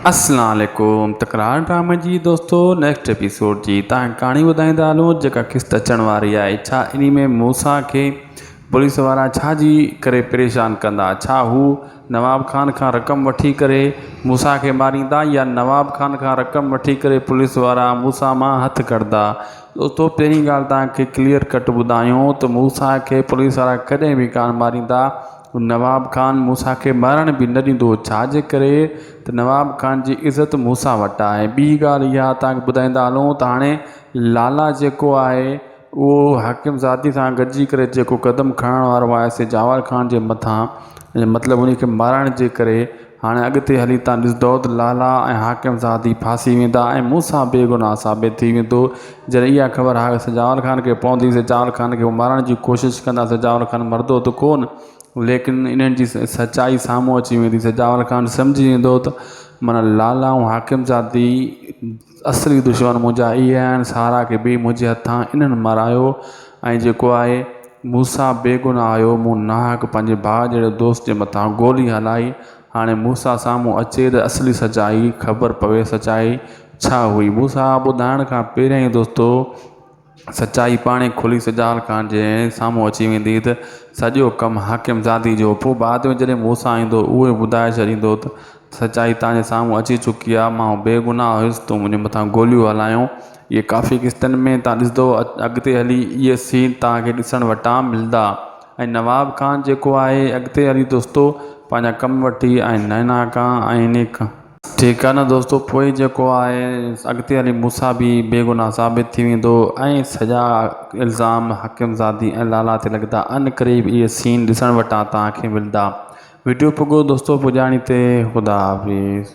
اسلام عليڪم تڪرار ڊرامي جي دوستو نيڪسٽ ايپيسوڊ جي تان ڪھاڻي ٻڌائيندا ھلون جيڪا قسط اچڻ واري آھي ڇا انھي ۾ موسيٰ کي پوليس وارا ڇا جي ڪري پريشان ڪندا ڇا ھو نواب خان کان رقم وٺي ڪري موسيٰ کي ماريندا يا نواب خان کان رقم وٺي ڪري پوليس وارا موسيٰ مان ھٿ ڪڍدا دوستو پھرين ڳالھ توھان کي ڪليئر ڪٽ ٻڌايون ته موسيٰ کي پوليس وارا ڪڏھن به ڪانھ ماريندا. نواب خان موسيٰ کي مرڻ به نه ڏيندو ڇاجي ڪري ته نواب خان جي عزت موسيٰ وٽ آهي ۽ ٻي ڳالهه اها توهان کي ٻڌائيندا هلون ته هاڻي لالا جيڪو آهي اهو حاڪم زادي سان گڏجي ڪري جيڪو قدم کڻڻ وارو آهي سي جاور خان جي مٿان مطلب انهي کي مرڻ جي ڪري هاڻي اڳتي هلي تان ڏسندؤ ته لالا ۽ حاڪم زادي ڦاسي ويندا ۽ مون سان بي گناهه ثابت ٿي ويندو. جڏهن اها خبر هاڪ سجاول خان کي پوندي، سجاول خان کي هو مارڻ جي ڪوشش ڪندا، سجاول خان مرندو ته ڪونه، ليڪن انهن جي سچائي سامهون اچي ويندي، سجاول خان سمجهي ويندو ته من لالا ۽ حاڪم زادي. اصلي دشمن منهنجا اهي آهن سارا کي به منهنجي هٿان انهن مارايو ۽ جيڪو آء موسيٰ بيگناهه هيو مون ناحق پنهنجي ڀاء جهڙي دوست جي مٿان گولي هلائي هاڻي موسيٰ سامهون اچي ته اصلي سچائي خبر پوي سچائي ڇا هئي موسيٰ ٻڌائڻ کان پهريائين دوستو سچائي پاڻهي کلي سجال خان جي سامهون اچي ويندي ته سڄو ڪم حاڪم زادي جو هو. پوء بعد ۾ جڏهن موسيٰ ايندو ته اهو ٻڌائي ڇڏيندو ته سچائي توهان جي سامهون اچي چڪي آهي، مان بيگناهه هيس، تون منهنجي مٿان گوليون هلايون. اهي ڪافي قسطن ۾ توهان ڏسندؤ. اڳتي هلي اهي سين توهان کي ڏسڻ وٽان ملندا. ۽ نواب خان جيڪو آهي اڳتي هلي دوستو پنهنجا ڪم وٺي ۽ نئنا کان ۽ انهي کان. ٺيڪ آ نه دوستو پوء جيڪو آء اڳتي هلي مون سان به بيگناهه ثابت ٿي ويندو ۽ سڄا الزام حڪيم زادي ۽ لالا تي لڳندا ان قريب اهي سين ڏسڻ وٽان توهان کي ملدا وڊيو پڳو دوستو پڄاڻي تي خدا حافظ.